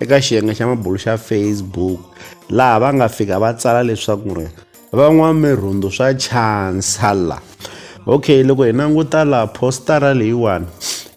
eka xiyenge xa mabulo xa facebook laha va nga fika va tsala leswaku ri van'wamirhundu swa chansala okay loko hi languta laha postara leyiwani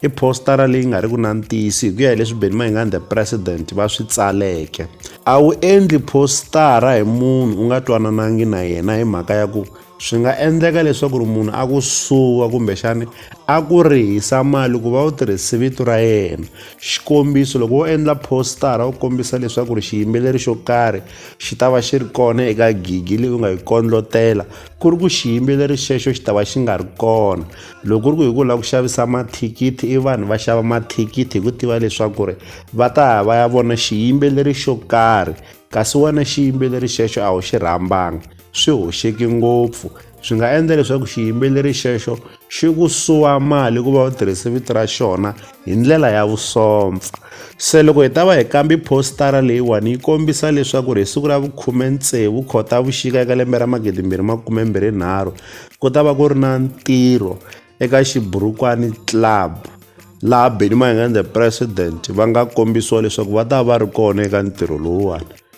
i postara leyi nga ri ku na ntiyisi hi ku ya hi leswi benny mayingani the president va swi tsaleke a wu endli postara hi munhu u nga twananangi na yena hi mhaka ya ku Swi nga endleka leswaku ri munhu a ku suwa kumbexani a ku rihisa mali ku va u tirhise vito ra yena xikombiso loko wo endla postara u kombisa leswaku ri xiyimbeleri xo karhi xi ta va xi ri kona eka gigi leyi u nga yi kondlotela ku ri ku xiyimbeleri xexo xi ta va xi nga ri kona loko ku ri ku hi ku lava ku xavisa mathikithi i vanhu va xava mathikithi hi ku tiva leswaku ri va ta ya va ya vona xiyimbeleri xo karhi kasi wena xiyimbeleri xexo a wu xi rhambanga swi hoxeki ngopfu swi nga endla leswaku xiyimbeleri xexo xi ku suwa mali ku va u tirhise vito ra xona hi ndlela ya vusompfa se loko hi ta va hi kambi postara leyiwani yi kombisa leswaku ri hi siku ra vukhume tsevu khotavuxika eka lembe ra magidi mbirhi makume mbirhi nharhu ku ta va ku ri na ntirho eka xiburukwani club laha benny mayengende president va nga kombisiwa leswaku va ta va ri kona eka ntirho lowuwani